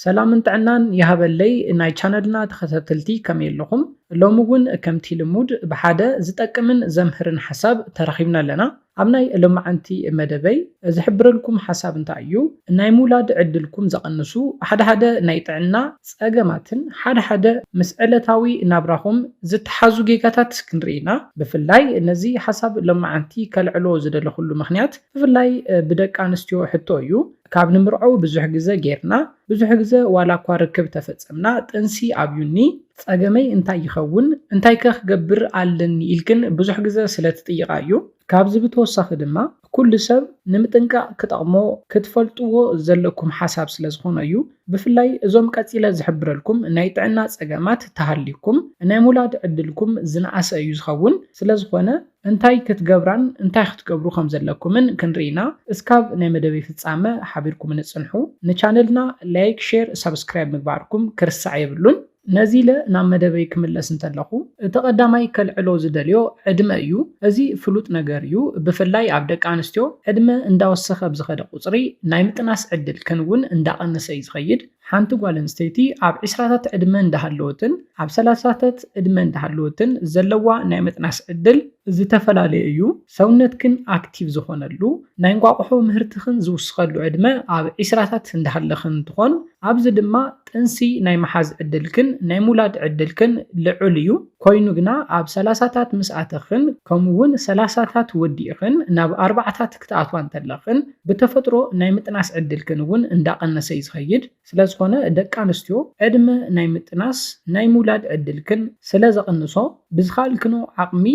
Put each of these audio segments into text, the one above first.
ሰላምን ጥዕናን ይሃበለይ ናይ ቻነልና ተኸታተልቲ ከመይ ኣለኹም ሎሚ እውን ከምቲ ልሙድ ብሓደ ዝጠቅምን ዘምህርን ሓሳብ ተራኺብና ኣለና ኣብ ናይ ሎማዓንቲ መደበይ ዝሕብረልኩም ሓሳብ እንታይ እዩ ናይ ምውላድ ዕድልኩም ዘቐንሱ ሓደ ሓደ ናይ ጥዕና ፀገማትን ሓደ ሓደ ምስ ዕለታዊ ናብራኹም ዝተሓዙ ጌጋታት ክንርኢ ኢና ብፍላይ ነዚ ሓሳብ ሎማዓንቲ ከልዕሎ ዝደለኹሉ ምኽንያት ብፍላይ ብደቂ ኣንስትዮ ሕቶ እዩ ካብ ንምርዐው ብዙሕ ግዘ ገይርና ብዙሕ ግዘ ዋላ እኳ ርክብ ተፈፀምና ጥንሲ ኣብዩኒ ፀገመይ እንታይ ይኸውን እንታይ ከ ክገብር ኣለኒ ኢልክን ብዙሕ ግዘ ስለ ትጥይቃ እዩ። ካብዚ ብተወሳኺ ድማ ኩሉ ሰብ ንምጥንቃቅ ክጠቅሞ ክትፈልጥዎ ዘለኩም ሓሳብ ስለ ዝኾነ እዩ ብፍላይ እዞም ቀፂለ ዝሕብረልኩም ናይ ጥዕና ፀገማት ተሃልዩኩም ናይ ምውላድ ዕድልኩም ዝነኣሰ እዩ ዝኸውን ስለ ዝኾነ እንታይ ክትገብራን እንታይ ክትገብሩ ከም ዘለኩምን ክንርኢ ኢና እስካብ ናይ መደበይ ፍጻመ ሓቢርኩምኒ ጽንሑ ንቻነልና ላይክ ሼር ሳብስክራይብ ምግባርኩም ክርሳዕ የብሉን። ነዚለ ናብ መደበይ ክምለስ እንተለኩ እቲ ቀዳማይ ከልዕሎ ዝደልዮ ዕድመ እዩ እዚ ፍሉጥ ነገር እዩ ብፍላይ ኣብ ደቂ ኣንስትዮ ዕድመ እንዳወሰከ ብዝከደ ቁጽሪ ናይ ምጥናስ ዕድልክን ውን እንዳቀነሰ እዩ ዝከይድ ሓንቲ ጓል ኣንስተይቲ ኣብ ዕስራታት ዕድመ እንዳሃለወትን ኣብ ሰላሳታት ዕድመ እንዳሃለወትን ዘለዋ ናይ ምጥናስ ዕድል ዝተፈላለየ እዩ። ሰውነትክን ኣክቲቭ ዝኾነሉ፣ ናይ እንቋቑሖ ምህርትኽን ዝውስኸሉ ዕድመ ኣብ ዕስራታት እንዳሃለኽን እንትኾን፣ ኣብዚ ድማ ጥንሲ ናይ ምሓዝ ዕድልክን ናይ ምውላድ ዕድልክን ልዑል እዩ። ኮይኑ ግና ኣብ ሰላሳታት ምስ ኣተኽን ከምኡ ውን ሰላሳታት ወዲእኽን ናብ ኣርባዓታት ክትኣትዋ እንተለኽን፣ ብተፈጥሮ ናይ ምጥናስ ዕድልክን እውን እንዳቐነሰ እዩ ዝኸይድ። ስለዝኾነ ደቂ ኣንስትዮ ዕድመ ናይ ምጥናስ፣ ናይ ምውላድ ዕድልክን ስለዘቕንሶ ብዝኸኣልክንኦ ዓቕሚ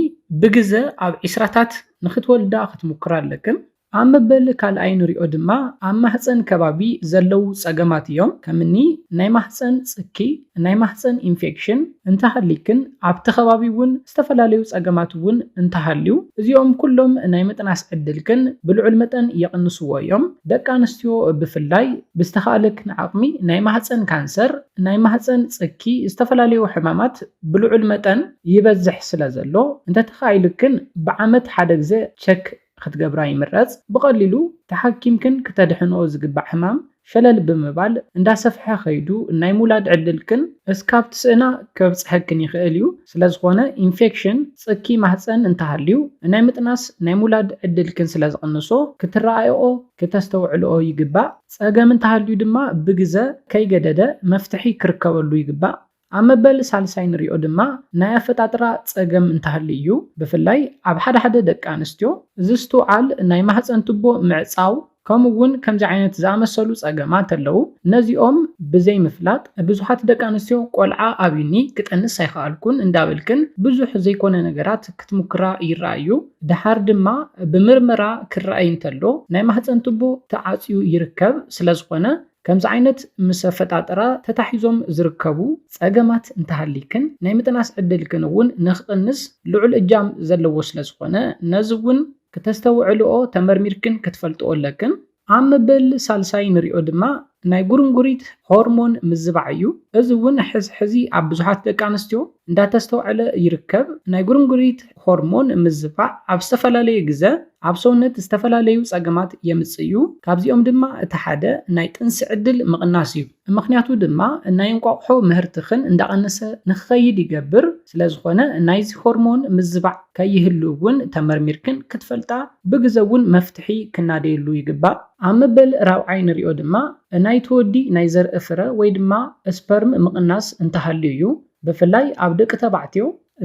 ብግዘ ኣብ ዒስራታት ንክትወልዳ ክትሙክራ ኣለክን። ኣብ መበል ካልኣይ ንሪኦ ድማ ኣብ ማህፀን ከባቢ ዘለዉ ፀገማት እዮም። ከምኒ ናይ ማህፀን ፅኪ፣ ናይ ማህጸን ኢንፌክሽን እንተሃልይክን ኣብቲ ከባቢ እውን ዝተፈላለዩ ጸገማት እውን እንተሃልዩ እዚኦም ኩሎም ናይ ምጥናስ ዕድልክን ብልዑል መጠን ይቕንስዎ እዮም። ደቂ ኣንስትዮ ብፍላይ ብዝተኻእለክን ዓቕሚ ናይ ማህጸን ካንሰር፣ ናይ ማህጸን ጽኪ ዝተፈላለዩ ሕማማት ብልዑል መጠን ይበዝሕ ስለዘሎ እንተተኻኢሉክን ብዓመት ሓደ ግዘ ቸክ ክትገብራ ይምረጽ። ብቐሊሉ ተሓኪምክን ክተድሕንኦ ዝግባእ ሕማም ሸለል ብምባል እንዳሰፍሐ ከይዱ ናይ ምውላድ ዕድልክን እስካብ ትስእና ከብጽሐክን ይኽእል እዩ። ስለዝኾነ ኢንፌክሽን ጽኪ ማህጸን እንተሃልዩ ናይ ምጥናስ ናይ ምውላድ ዕድልክን ስለዝቕንሶ ክትረኣይኦ ክተስተውዕልኦ ይግባእ። ጸገም እንተሃልዩ ድማ ብግዘ ከይገደደ መፍትሒ ክርከበሉ ይግባእ። ኣብ መበል ሳልሳይ ንሪኦ ድማ ናይ ኣፈጣጥራ ፀገም እንተሃልዩ እዩ። ብፍላይ ኣብ ሓደ ሓደ ደቂ ኣንስትዮ ዝስትውዓል ናይ ማህፀን ቱቦ ምዕፃው ከምኡ እውን ከምዚ ዓይነት ዝኣመሰሉ ፀገማት ኣለዉ። ነዚኦም ብዘይምፍላጥ ብዙሓት ደቂ ኣንስትዮ ቆልዓ ኣብዩኒ ክጠንስ ኣይኸኣልኩን እንዳበልክን ብዙሕ ዘይኮነ ነገራት ክትሙክራ ይረኣ እዩ። ደሓር ድማ ብምርመራ ክረኣይ እንተሎ ናይ ማህፀን ቱቦ ተዓፅዩ ይርከብ። ስለዝኾነ። ከምዚ ዓይነት ምስ ኣፈጣጥራ ተታሒዞም ዝርከቡ ጸገማት እንተሃልይክን ናይ ምጥናስ ዕድልክን እውን ንክቕንስ ልዑል እጃም ዘለዎ ስለ ዝኾነ ነዚ እውን ክተስተውዕልኦ ተመርሚርክን ክትፈልጥኦ ኣለክን። ኣብ መበል ሳልሳይ ንሪኦ ድማ ናይ ጉርንጉሪት ሆርሞን ምዝባዕ እዩ። እዚ እውን ሕዚ ሕዚ ኣብ ብዙሓት ደቂ ኣንስትዮ እንዳተስተውዐለ ይርከብ። ናይ ጉርንጉሪት ሆርሞን ምዝፋዕ ኣብ ዝተፈላለየ ግዘ ኣብ ሰውነት ዝተፈላለዩ ፀገማት የምፅእ እዩ። ካብዚኦም ድማ እቲ ሓደ ናይ ጥንሲ ዕድል ምቕናስ እዩ። ምኽንያቱ ድማ ናይ እንቋቑሖ ምህርትኽን እንዳቐነሰ ንክኸይድ ይገብር። ስለዝኾነ ናይዚ ሆርሞን ምዝባዕ ከይህሉ እውን ተመርሚርክን ክትፈልጣ ብግዘ እውን መፍትሒ ክናደየሉ ይግባእ። ኣብ መበል ራብዓይ ንሪኦ ድማ ናይቲ ወዲ ናይ ዘርኢ ፍረ ወይ ድማ ስፐርም ምቕናስ እንተሃልዩ እዩ። ብፍላይ ኣብ ደቂ ተባዕትዮ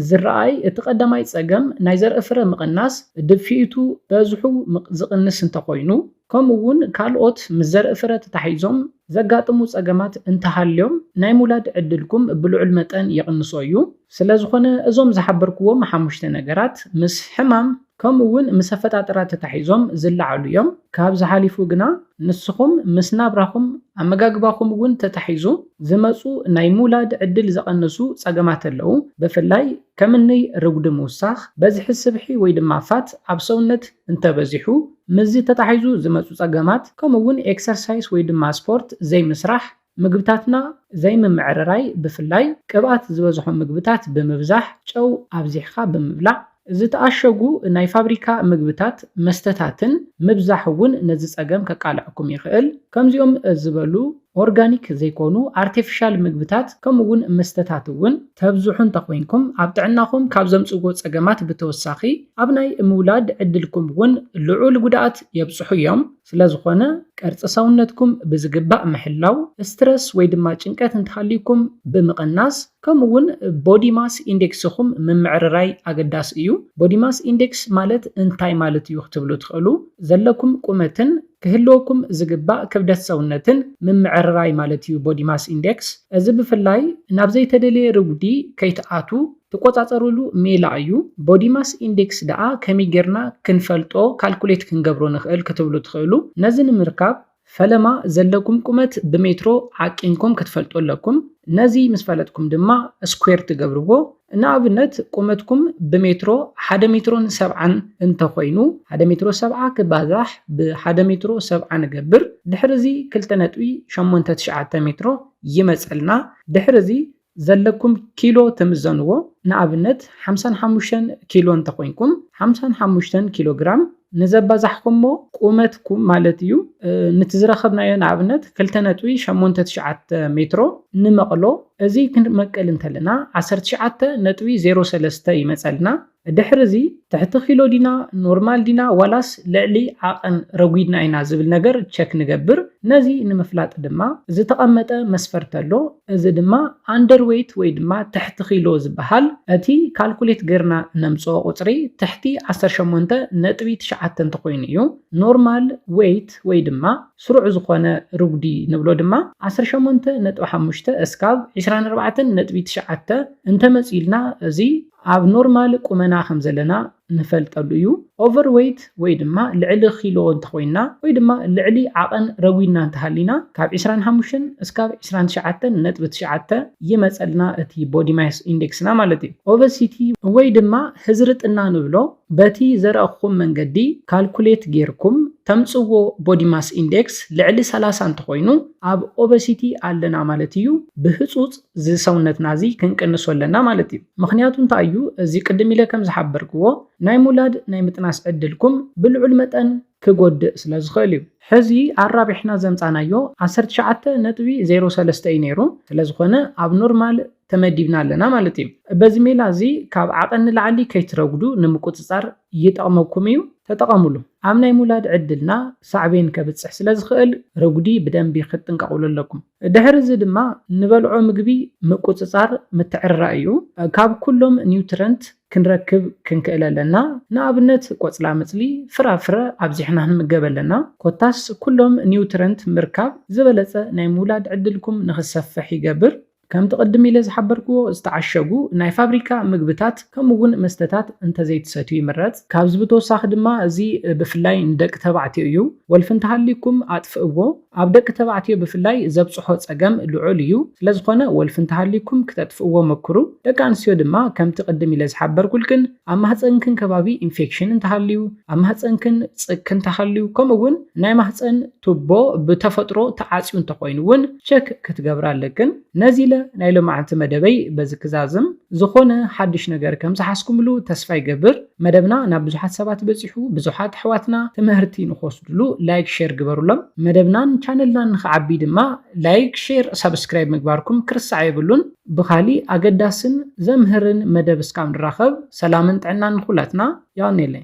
ዝረኣይ እቲ ቀዳማይ ጸገም ናይ ዘርኢ ፍረ ምቕናስ ድፍኢቱ በዝሑ ዝቕንስ እንተኾይኑ ከምኡ እውን ካልኦት ምስ ዘርኢ ፍረ ተታሒዞም ዘጋጥሙ ጸገማት እንተሃልዮም ናይ ምውላድ ዕድልኩም ብልዑል መጠን ይቕንሶ እዩ። ስለዝኾነ እዞም ዝሓበርኩዎም ሓሙሽተ ነገራት ምስ ሕማም። ከምኡ ውን ምስ ኣፈጣጥራ ተታሒዞም ዝለዓሉ እዮም። ካብዚ ሓሊፉ ግና ንስኹም ምስ ናብራኹም፣ ኣመጋግባኹም ውን ተታሒዙ ዝመጹ ናይ ምውላድ ዕድል ዘቐንሱ ጸገማት ኣለዉ። ብፍላይ ከምኒ ርጉዲ ምውሳኽ፣ በዝሒ ስብሒ ወይ ድማ ፋት ኣብ ሰውነት እንተበዚሑ፣ ምስዚ ተታሒዙ ዝመጹ ጸገማት፣ ከምኡ ውን ኤክሰርሳይስ ወይ ድማ ስፖርት ዘይምስራሕ፣ ምግብታትና ዘይምምዕርራይ ብፍላይ ቅብኣት ዝበዝሖም ምግብታት ብምብዛሕ ጨው ኣብዚሕኻ ብምብላዕ፣ ዝተኣሸጉ ናይ ፋብሪካ ምግብታት መስተታትን ምብዛሕ እውን ነዚ ፀገም ከቃልዐኩም ይኽእል። ከምዚኦም ዝበሉ ኦርጋኒክ ዘይኮኑ ኣርቴፊሻል ምግብታት ከምኡ እውን መስተታት እውን ተብዝሑ እንተኾይንኩም ኣብ ጥዕናኹም ካብ ዘምፅእዎ ፀገማት ብተወሳኺ ኣብ ናይ ምውላድ ዕድልኩም እውን ልዑል ጉድኣት የብፅሑ እዮም። ስለዝኾነ ቅርፂ ሰውነትኩም ብዝግባእ ምሕላው፣ ስትረስ ወይ ድማ ጭንቀት እንተሃልዩኩም ብምቕናስ ከምኡ እውን ቦዲ ማስ ኢንዴክስኹም ምምዕርራይ ኣገዳሲ እዩ። ቦዲ ማስ ኢንዴክስ ማለት እንታይ ማለት እዩ ክትብሉ ትኽእሉ። ዘለኩም ቁመትን ክህልወኩም ዝግባእ ክብደት ሰውነትን ምምዕርራይ ማለት እዩ ቦዲ ማስ ኢንዴክስ። እዚ ብፍላይ ናብ ዘይተደልየ ርጉዲ ከይትኣትዉ ትቆጻጸርሉ ሜላ እዩ። ቦዲ ማስ ኢንዴክስ ደኣ ከመይ ጌርና ክንፈልጦ ካልኩሌት ክንገብሮ ንኽእል ክትብሉ ትኽእሉ። ነዚ ንምርካብ ፈለማ ዘለኩም ቁመት ብሜትሮ ዓቂንኩም ክትፈልጡ ኣለኩም። ነዚ ምስ ፈለጥኩም ድማ ስኩዌር ትገብርዎ። ንኣብነት ቁመትኩም ብሜትሮ ሓደ ሜትሮን ሰብዓን እንተኾይኑ ሓደ ሜትሮ ሰብዓ ክባዛሕ ብሓደ ሜትሮ ሰብዓ ንገብር። ድሕሪ እዚ ክልተ ነጥቢ ሸሞንተ ትሽዓተ ሜትሮ ይመጸልና። ድሕሪ እዚ ዘለኩም ኪሎ ትምዘንዎ ንኣብነት ሓምሳን ሓሙሽተን ኪሎ እንተኮይንኩም ሓምሳን ሓሙሽተን ኪሎ ግራም ንዘባዛሕኩሞ ቁመትኩም ማለት እዩ ንቲ ዝረከብናዮ ንኣብነት ክልተ ነጥቢ ሸሞንተ ትሽዓተ ሜትሮ ንመቅሎ እዚ ክንመቅል እንተለና ዓሰርተ ትሽዓተ ነጥቢ ዜሮ ሰለስተ ይመፀልና ድሕሪዚ ትሕቲ ኪሎ ዲና ኖርማል ዲና ዋላስ ልዕሊ ዓቐን ረጒድና ኢና ዝብል ነገር ቸክ ንገብር። ነዚ ንምፍላጥ ድማ ዝተቐመጠ መስፈርት ኣሎ። እዚ ድማ ኣንደር ዌይት ወይ ድማ ትሕቲ ኪሎ ዝበሃል እቲ ካልኩሌት ገይርና እነምጽኦ ቁጽሪ ትሕቲ ዓሰርተ ሸሞንተ ነጥቢ ትሽዓተ እንተኾይኑ እዩ። ኖርማል ዌይት ወይ ድማ ስሩዕ ዝኾነ ርጉዲ ንብሎ ድማ ዓሰርተ ሸሞንተ ነጥቢ ሓሙሽተ እስካብ ዕስራን ኣርባዕተን ነጥቢ ትሽዓተ እንተመጺኡልና እዚ ኣብ ኖርማል ቁመና ከም ዘለና ንፈልጠሉ እዩ። ኦቨር ዌይት ወይ ድማ ልዕሊ ኪሎ እንተኾይንና ወይ ድማ ልዕሊ ዓቐን ረጒድና እንተሃሊና ካብ ዕስራን ሓሙሽተን እስካብ ዕስራን ትሽዓተን ነጥቢ ትሽዓተ ይመጸልና እቲ ቦዲ ማስ ኢንዴክስና ማለት እዩ። ኦቨሲቲ ወይ ድማ ህዝርጥና ንብሎ በቲ ዘረኣኹኹም መንገዲ ካልኩሌት ጌርኩም ተምጽዎ ቦዲ ማስ ኢንዴክስ ልዕሊ ሰላሳ እንተኾይኑ ኣብ ኦቨሲቲ ኣለና ማለት እዩ። ብህጹጽ እዚ ሰውነትና እዚ ክንቅንሶ ኣለና ማለት እዩ ምክንያቱ እንታይ እዩ እዚ ቅድም ኢለ ከም ዝሓበርክዎ ናይ ሙላድ ናይ ምጥናስ ዕድልኩም ብልዑል መጠን ክጎድእ ስለ ዝክእል እዩ። ሕዚ ኣራቢሕና ዘምጻናዮ ዓሰርተ ትሽዓተ ነጥቢ ዜሮ ሰለስተ እዩ ነይሩ ስለ ዝኮነ ኣብ ኖርማል ተመዲብና ኣለና ማለት እዩ በዚ ሜላ እዚ ካብ ዓቀን ንላዕሊ ከይትረጉዱ ንምቁጽጻር ይጠቕመኩም እዩ ተጠቐምሉ። ኣብ ናይ ሙላድ ዕድልና ሳዕቤን ከብጽሕ ስለ ዝኽእል ረጉዲ ብደንቢ ክትጥንቀቕሉ ኣለኩም። ድሕሪ እዚ ድማ ንበልዖ ምግቢ ምቁጽጻር ምትዕርራይ እዩ። ካብ ኩሎም ኒውትረንት ክንረክብ ክንክእል ኣለና። ንኣብነት ቆጽላመጽሊ፣ ፍራፍረ ኣብዚሕና ክንምገብ ኣለና። ኮታስ ኩሎም ኒውትረንት ምርካብ ዝበለጸ ናይ ምውላድ ዕድልኩም ንኽሰፍሕ ይገብር። ከምቲ ቅድም ኢለ ዝሓበርክዎ ዝተዓሸጉ ናይ ፋብሪካ ምግብታት ከምኡ እውን መስተታት እንተዘይትሰትዩ ይምረፅ። ካብዚ ብተወሳኺ ድማ እዚ ብፍላይ ንደቂ ተባዕትዮ እዩ። ወልፊ እንተሃልዩኩም ኣጥፍእዎ። ኣብ ደቂ ተባዕትዮ ብፍላይ ዘብፅሖ ፀገም ልዑል እዩ። ስለዝኾነ ወልፊ እንተሃልዩኩም ክተጥፍእዎ መክሩ። ደቂ ኣንስትዮ ድማ ከምቲ ቅድም ኢለ ዝሓበርኩልክን ኣብ ማህፀንክን ከባቢ ኢንፌክሽን እንተሃልዩ፣ ኣብ ማህፀንክን ፅክ እንተሃልዩ ከምኡ እውን ናይ ማህፀን ቱቦ ብተፈጥሮ ተዓጽዩ እንተኾይኑ እውን ቸክ ክትገብራ ኣለክን። ነዚ ኢለ ናይ ሎማዕንቲ መደበይ በዚ ክዛዝም። ዝኾነ ሓዱሽ ነገር ከም ዝሓዝኩምሉ ተስፋ ይገብር። መደብና ናብ ብዙሓት ሰባት በጺሑ ብዙሓት ኣሕዋትና ትምህርቲ ንኽወስድሉ ላይክ ሼር ግበሩሎም። መደብናን ቻነልናን ንኽዓቢ ድማ ላይክ ሼር ሳብስክራይብ ምግባርኩም ክርሳዕ የብሉን። ብኻሊእ ኣገዳስን ዘምህርን መደብ እስካብ ንራኸብ ሰላምን ጥዕናን ንኹላትና። ዮሃኔለይ።